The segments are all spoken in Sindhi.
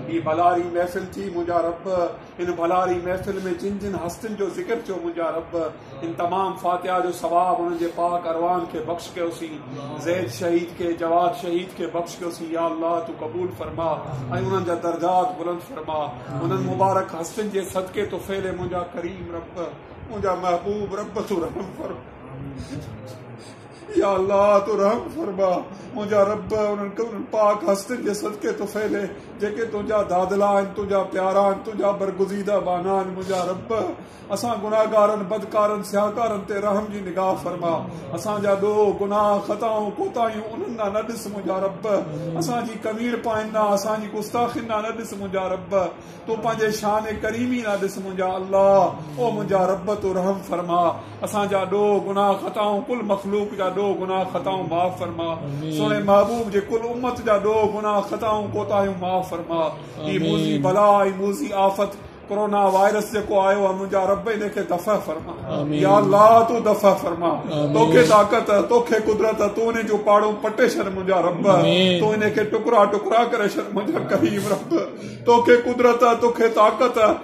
هي ڀلاري محفل ٿي منهنجا رب هن ڀلاري محفل ۾ جن جن هستين جو ذڪر ٿيو منهنجا رب هن تمام فاتحه جو ثواب انهن جي پاڪ اروان کي بخش ڪيوسين زيد شهيد کي جواد شهيد کي بخش ڪيوسين يا الله تو قبول فرما ۽ انهن جا درجات بلند فرما انهن مبارڪ هستين جي صدقي تو فعل منهنجا ڪريم رب منهنجا محبوب رب تو رحم فرما يا الله تون رحم فرما، منهنجا رب انهن ڪن پاڪ هستين جي صدقي تو ڦيري، جيڪي تنهنجا دادلا آهن، تنهنجا پيارا آهن، تنهنجا برگزيده ٻانها آهن، منهنجا رب اسان گنهگارن، بدڪارن، سياهڪارن تي رحم جي نگاهه فرما، اسان جا ڏوهه، گناهه، خطائون، ڪوتاهيون انهن ڏانهن نه ڏس، منهنجا رب اسان جي ڪمين پاين ڏانهن، اسان جي گستاخين ڏانهن نه ڏس، منهنجا رب تون پنهنجي شان ڪريمي ڏانهن ڏس، منهنجا الله او منهنجا رب تون رحم فرما. اسان جا ڏوهه گناهه خطائون ڪل مخلوق جا ڏوهه گناهه خطائون معاف فرما سهڻي محبوب جي ڪل امت جا ڏوهه گناهه خطائون ڪوتاهيون معاف فرما اي موذي بلا اي موذي آفت ڪورونا وائرس جيڪو آيو آ منهنجا رب ان کي دفع فرما يا الله تو دفع فرما تو کي طاقت تو کي قدرت تو ان جو پاڙو پٽي شر منهنجا رب تو ان کي ٽڪرا ٽڪرا ڪري شر منهنجا کريم رب تو کي قدرت تو کي طاقت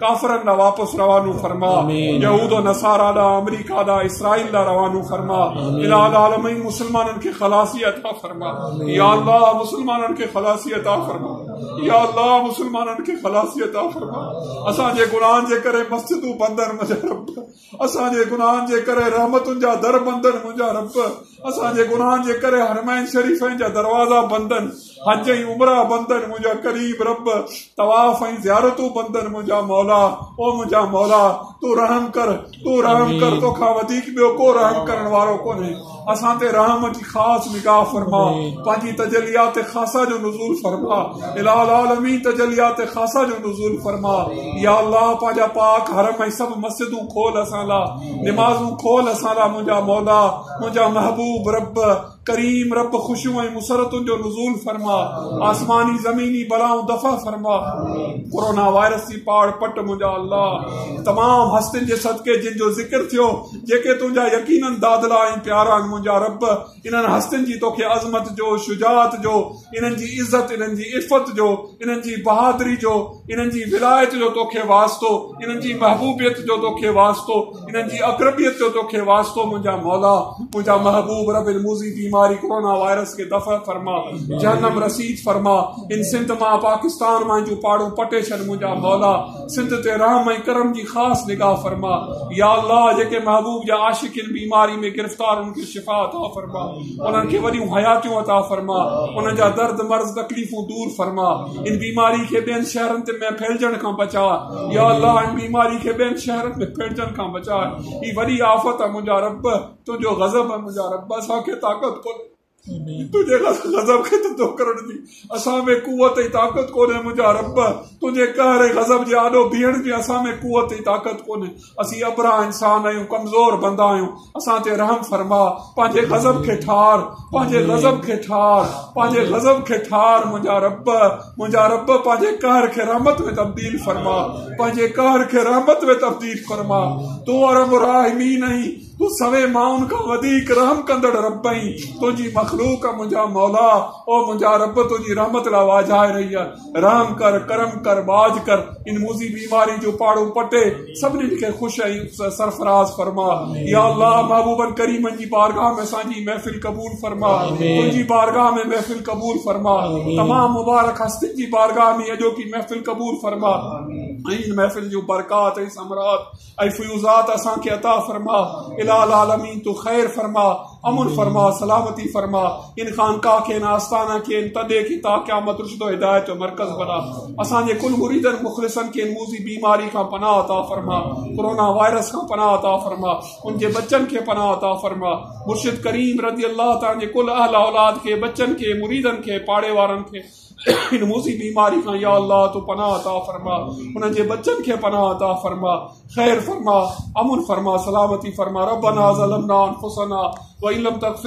ڪافرن ڏانهن واپس روانو فرما يهود و نصارا ڏانهن آمريڪا ڏانهن اسرائيل ڏانهن روانو فرما الٰه العالمين مسلمانن کي خلاصي عطا فرما يا الله مسلمانن کي خلاصي عطا فرما يا الله مسلمانن کي خلاصي عطا فرما اسان جي گناهن جي ڪري مسجدون بند آهن منهنجا رب اسان جي گناهن جي ڪري رحمتن جا در بندن منهنجا رب اسان جي گناهن جي ڪري حرمين شريفين جا دروازا بندن حج ۽ عمره بندن منهنجا ڪريم رب طواف ۽ زيارتون بندن منهنجا مولا او منهنجا مولا تون رحم ڪر تون رحم ڪر توکان وڌيڪ ٻيو ڪو رحم ڪرڻ وارو ڪونهي اسان تي رحم جي خاص نگاهه فرما پنهنجي تجليات خاصه جو نزول فرما اله العالمين تجليات خاصه جو نزول فرما يا الله پنهنجا پاڪ حرم ۽ سڀ مسجدون کول اسان لا نمازون کول اسان لا منهنجا مولا منهنجا محبوب رب ڪريم رب خوشيون ۽ مسرتن جو نزول فرما آسماني زميني بلائون دفع فرما ڪورونا وائرس جي پاڙ پٽ منهنجا الله تمام هستين جي صدقي جن جو ذڪر ٿيو جيڪي تنهنجا يقيناً دادلا ۽ پيارا آهن، منهنجا رب! انهن هستين جي توکي عظمت جو، شجاعت جو، انهن جي عزت، انهن جي عفت جو، انهن جي بهادري جو، انهن جي ولايت جو توکي واسطو، انهن جي محبوبيت جو توکي واسطو، انهن جي اقربيت جو توکي واسطو، منهنجا مولا! منهنجا محبوب! رب الموذي بيماري ڪورونا وائرس کي دفع فرما، جهنم رسيد فرما، هن سنڌ مان، پاڪستان مان هن جون پاڙون پٽي ڇڏ، منهنجا مولا! سڌ تي رحم ۽ ڪرم جي خاص نگاهه فرما يا الله جيڪي محبوب جا عاشق ان بيماري ۾ گرفتار انهن کي شفا عطا فرما انهن کي وڏيون حياتيون عطا فرما انهن جا درد مرض تڪليفون دور فرما ان بيماري کي ٻين شهرن تي ۾ ڦهلجڻ کان بچاء يا الله ان بيماري کي ٻين شهرن ۾ ڦهلجڻ کان بچاء هي وڏي آفت آ منهنجا رب تنهنجو غضب آ منهنجا رب اسان کي طاقت ڪونهي تنهنجي غضب کي ٿڌو ڪرڻ جي اسان ۾ قوت ۽ طاقت ڪونهي منهنجا رب تنهنجي قهر ۽ غضب جي آڏو بيهڻ جي اسان ۾ قوت ۽ طاقت ڪونهي اسين ابرهه انسان آهيون ڪمزور بندا آهيون اسان تي رحم فرما پنهنجي غضب کي ٺار پنهنجي غضب کي ٺار پنهنجي غضب کي ٺار منهنجا رب منهنجا رب پنهنجي قهر کي رحمت ۾ تبديل فرما پنهنجي قهر کي رحمت ۾ تبديل فرما تون ارحم الراحمين آهين تون سوين مائن کان وڌيڪ رحم ڪندڙ رب آهين، تنهنجي مخلوق آ منهنجا مولا، او منهنجا رب تنهنجي رحمت لاء واجهائي رهي آ، رحم ڪر، ڪرم ڪر، ٻاجهه ڪر، ان موذي بيماري جو پاڙو پٽي سڀني کي خوش ۽ سرفراز فرما، يا الله محبوبن ڪريمن جي بارگاهه ۾ اسان جي محفل قبول فرما، تنهنجي بارگاهه ۾ محفل قبول فرما، تمام مبارڪ هستين جي بارگاهه ۾ اڄوڪي محفل قبول فرما ۽ ان محفل جون برڪات ۽ ثمرات. اي فيوضات اسان کي عطا فرما اله العالمين تون خير فرما امن فرما سلامتي فرما ان خانقاهه کي ان آستانه کي ان تدي کي تا قيامت رشد و هدايت جو مرڪز بنا اسان جي ڪل مريدن مخلصن کي ان موذي بيماري کان پناهه عطا فرما ڪورونا وائرس کان پناهه عطا فرما ان جي بچن کي پناهه عطا فرما مرشد کريم رضي الله تعالي جي ڪل اهل اولاد کي بچن کي مريدن کي پاڙي وارن کي ان موذي بيماري کان يا الله تو پناهه عطا فرما انهن جي بچن کي پناهه عطا فرما خير فرما امن فرما سلامتي فرما ربنا ظلمنا انفسنا وان لم تغفر